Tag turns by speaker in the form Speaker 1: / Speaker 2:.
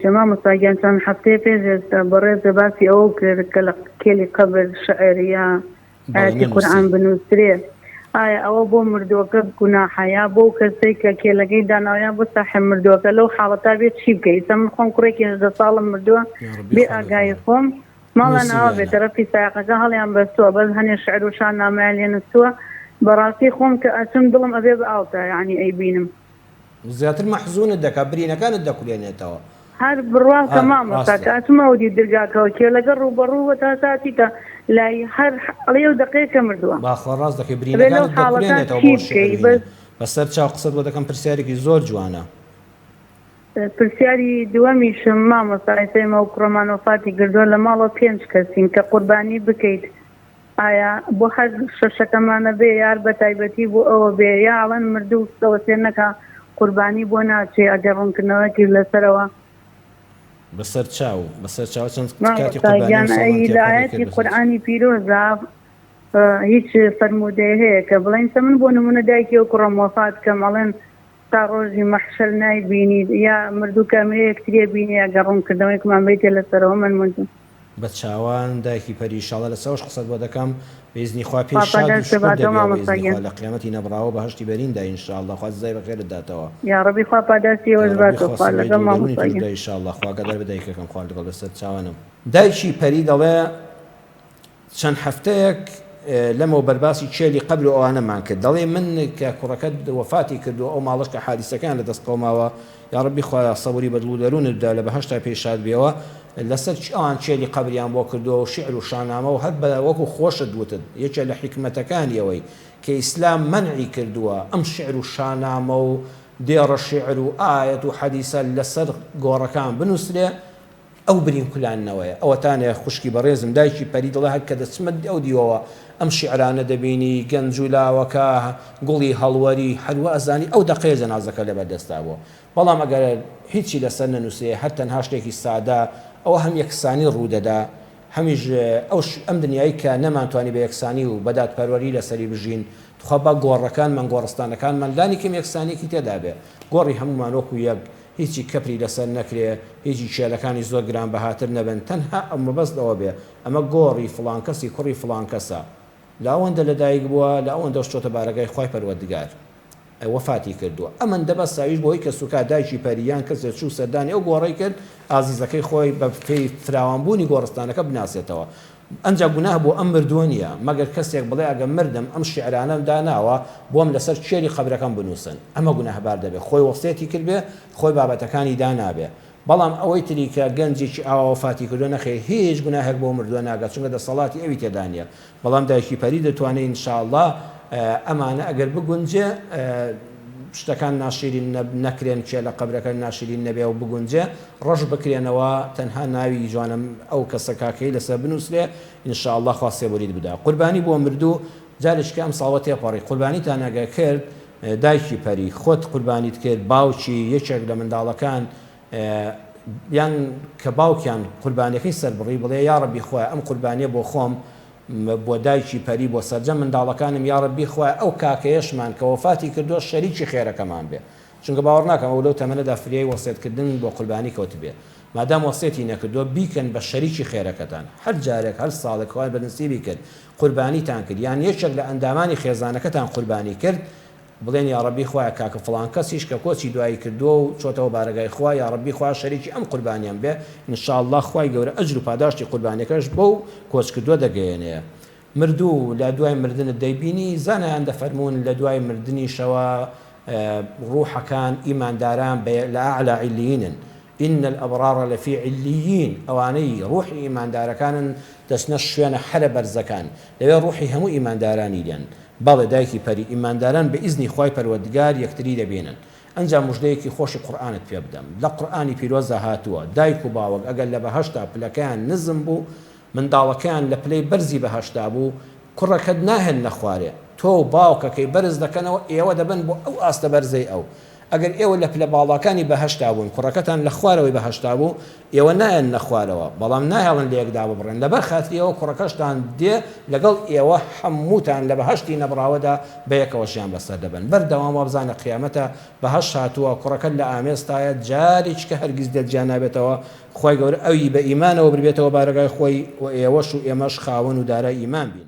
Speaker 1: کە مامۆستا گیان چەند هەفتەیە پێش ئێستا بەڕێز لە باسی ئەوەو کرد کە لە کێلی قەبر شعر یا بەڵێ ئایەتی نەنووسی. قورئان بنووسرێ ئایا ئەوە بۆ مردووەکە گوناحە یا بۆ ئەو کەسەی کە کێلەکەی داناوە یا بۆ ساحێب مردووەکە لەو حاڵەتا بێ چی بکەی ئیستا من خۆم کوڕێکی هەژدە ساڵم مردووە یا ڕەبی بێ خۆ ئاگایی نەدەرێ خۆم ماڵان نووسین ئاوا یا بێ نا. تەرەفی سایەقەکە هەڵیان بەستووە بەس هەنێ شعر و شانامەیان لێ نووستووە بەڕاستی خۆم کە ئەچم دڵم ئەبێ بە ئاو تا یانی ئەیبینم. زیاتر
Speaker 2: مەحزونت دەکات برینەکانت دەکولێنێتەوە. هەر بڕواکە
Speaker 1: مامۆستا کە ئەچمە ئەودیو درگاکەوە کێ لەگەڵ ڕووبەڕوو بووە تا ساتی کە لای هەر ڵێ و دەقەیە کە مردووە. باخوا ڕاست دەکەی برینەکانت
Speaker 2: دەکولێنێتەوە بۆ شیعر بینی بە سەر چاو قسەت بۆ دەکەم پرسیارێکی زۆر جوانە. پرسیاری
Speaker 1: دووەمیشم مامۆستا ئێستا ئێمە وەکو ڕۆمان وەفاتی گردووە لە ماڵەوە پێنج کەسین کە قوربانی بکەیت ئایا بۆ هەر شەشەکەمانە بێ یار بە تایبەتی بۆ ئەوە بێ یا ئەڵێن مردوو سەوە سێر نەکا قوربانی بۆ ناچێ ئەگەر ڕوونکردنەوەکیش لەسەرەوە
Speaker 2: بەسەر چاو بەسەر چاو چەند کاتی مامۆستا قوربانی گیان
Speaker 1: ئەی مسەڵمانتیە لە پەڕی کرد ئایەتی بەسەر چاو. قورئانی پیرۆزا هیچ فەرموودەیە هەیە کە بڵێن سە من بۆ نموونە دایکی و کوڕم وەفات کەم ئەڵێن تا ڕۆژی مەحشەر نایبینیت یا مردوو کە ئەمرێ یەکتری ئەبینێ ئەگەر ڕوونکردنەوەیەکمان بەیتێ لەسەرەوە مەمنوون بە چاوان
Speaker 2: دایکی پەری ئیشاڵا لە چاوش قسەت بۆ دەکەم بە ئیزنی خوا پێی خوا شاد و پەرلەشت شکور باتەوە دەبیەوە بە مامۆستا ئیزنی خوا گیان. لە قیامەتی نەبڕاوە بەهەشتی بەرین دا ئینشاڵا خوا جزای بە خێرت داتەوە یاڕەبی خوا
Speaker 1: پاداشتی ئێوەش یاڕەبی باتەوە خوا خوا سزای لەگەڵ دڵ و دەروونی مامۆستا تۆش بدا گیان. ئیشاڵا خوا ئاگادار بە
Speaker 2: دایکەکەم خوا لەگەڵ بەسەر چاوانم. دایکی پەری دەڵێ چەند هەفتەیەک لەمەوبەر باسی کێلی قەبر و ئەوانەمان کرد دەڵێی من کە کوڕەکەت وەفاتی کردووە ئەو ماڵەش کە حادیسەکەیان لە دەست قەوماوە یاڕەبی خوایە سەبری بە دڵ و دەروونت بدا لە بەهەشتا پێی شاد بیەوە لەسەر چی ئەوان کێلی قەبریان بۆ کردووە و شیعر و شانامە و هەر بە وەکو خۆشت وتت یەکێ لە حیکمەتەکانی ئەوەی کە ئیسلام مەنعی کردووە ئەم شیعر و شانامە و دێڕە شیعر و ئایەت و حەدیسە لەسەر گۆڕەکان بنووسرێ ئەو برین کولاننەوەیە. ئەوەتا نەیە خوشکی بەڕێزم، دایکی پەری دڵە هەر کە دەچمە ئەو دیوەوە ئەم شیعرانە دەبینی، گەنج و لاوەکە، گوڵی هەڵوەری، هەر وا ئەزانی ئەو دەقەیە جەنازەکە لەبەر دەستا بووە. بەڵام ئەگەر هیچی لەسەر نەنووسرێ، هەر تەنها شتێکی سادە، ئەوە هەم یەکسانی ڕوو دەدا، هەمیش ئەم دنیای کە نەمانتوانی بە یەکسانی و بە دادپەروەری لەسەری بژین، تخوا با گۆڕەکانمان، گۆڕستانەکانمان لانیکەم یەکسانییەکی تێدا بێ. گۆڕی هەموومان وەکوو یەک هیچی کەپری لەسەر نەکرێ، هیچی کێلەکانی زۆر گرانبەهاتر نەبن، تەنها ئەو مەبەست ئەوە بێ، ئەمە گۆڕی فڵان کەسی کوڕی فڵان کەسە، لە ئەوەندە لە دایک بووە، لە ئەوەندەش چۆتە بارەگای خوای پەروەردگار وەفاتی کردووە، ئەمەندە بەس ئەویش بۆی کەسوکار دایکی پەری یان کەسێ چوو سەردانی ئەو گۆڕەی کرد، ئازیزەکەی خۆی بە پێی فراوانبوونی گۆڕستانەکە بناسێتەوە، ئەنجا گوناه بۆ ئەم مردووە نییە، مەگەر کەسێک بڵێ ئەگەر مردم ئەم شیعرانەم داناوە بۆم لەسەر کێلی قەبرەکەم بنووسن، ئەمە گوناهبار دەبێ، خۆی وەسیەتی کردبێ، خۆی بابەتەکانی دانابێ، بەڵام ئەوەی تری کە گەنجێکی ئاوا وەفاتی کردووە نەخێر هیچ گوناهێک بۆ مردووە ناگات چونکە دەسەڵاتی ئەوی تێدا نییە، بەڵام دایکی پەری دەتوانێ ان شاءاللە ئەمانە ئەگەر بگونجێ. شتەکان ناشیرین نەکرێن کێ لە قەبرەکە ناشیرین نەبێ و بگونجێ ڕەش بکرێنەوە تەنها ناوی جوانم ئەو کەسە کاکەی لەسەر بنوسرێ ان شاء اللە خوا سێبوریت بدا قوربانی بۆ مردوو جارێکیکە ئەم ساڵە تێپەڕی قوربانیتان ئەگەر کرد دایکی پەری خۆت قوربانیت کرد باوکی یەکێک لە منداڵەکان یان کە باوکیان قوربانیەکەی سەربڕی بڵێ یاڕەبی خوایە ئەم قوربانیە بۆ خۆم بۆ دایکی پەری بۆ سەرجەم منداڵەکانم یاڕەبی خوایە ئەو کاکەیەشمان کە وەفاتی کردوە شەریکی خێرەکەمان بێ چونکە باوەڕناکەم ئەو لەو تەمەنەدا فریای وەسێت کردن بۆ قوربانی کەوتبێ مادام وەسێتی نەکردوە بیکەن بە شەریکی خێرەکەتان هەر جارێک هەر ساڵێک خوای بەدنسیبی کرد قوربانیتان کرد یان یەکێک لە ئەندامانی خێزانەکەتان قوربانی کرد بڵێن یاڕەبی خوایە کاکە فڵان کەسیش کە کۆچی دوایی کردووە و چۆتەوە بارەگای خوا یاڕەبی خوایە شەریکی ئەم قوربانیەم بێ ان شاء اللە خوای گەورە ئەجر و پاداشتی قوربانیەکەش بەو کۆچکردووە دەگەیەنێ مردوو و لە دوای مردنت دەیبینی زانایان دەفەرموون لە دوای مردنیشەوە ڕوحەکان ئیمانداران بە لە اعلی علیینن ان الابرار لفی علیین ئەوانەی ڕوحی ئیماندارەکانن دەچنە شوێنە حەرە بەرزەکان لەوێ ڕوحی هەموو ئیماندارانی دێن، بەڵێ دایکی پەری ئیمانداران بە ئیزنی خوای پەروەردگار یەکتری دەبینن. ئەنجا موژدەیەکی خۆشی قورئانت پێ بدەم، لە قورئانی پیرۆزدا هاتووە، دایک و باوک ئەگەر لە بەهەشتا پلەکەیان نزم بوو، منداڵەکەیان لە پلەی بەرزی بەهەشتا بوو، کوڕەکەت ناهێننە خوارێ، تۆ و باوکەکەی بەرز دەکەنەوە، ئێوە دەبن بۆ ئەو ئاستە بەرزەی ئەو. ئەگەر ئێوە لە پلە باڵاکانی بەهەشتا بوون، کوڕەکەتان لە خوارەوەی بەهەشتا بوو، ئێوە نایەننە خوارەوە، بەڵام ناهێڵن لە یەک داببڕێن، لەبەر خاتری ئەوە کوڕەکەشتان دێ لەگەڵ ئێوە، هەمووتان لە بەهەشتی نەبڕاوەدا بە یەکەوە ژیان بەسەر دەبەن. بەردەوام وابزانە قیامەتە، بەهەشت هاتووە، کوڕەکەت لە ئامێزتایە، جارێکیکە هەرگیز لێت جیا نابێتەوە، خوای گەورە ئەوی بە ئیمانەوە بربێتەوە بارەگای خۆی و ئێوەش و ئێمەش خاوەن و دارای ئیمان بین.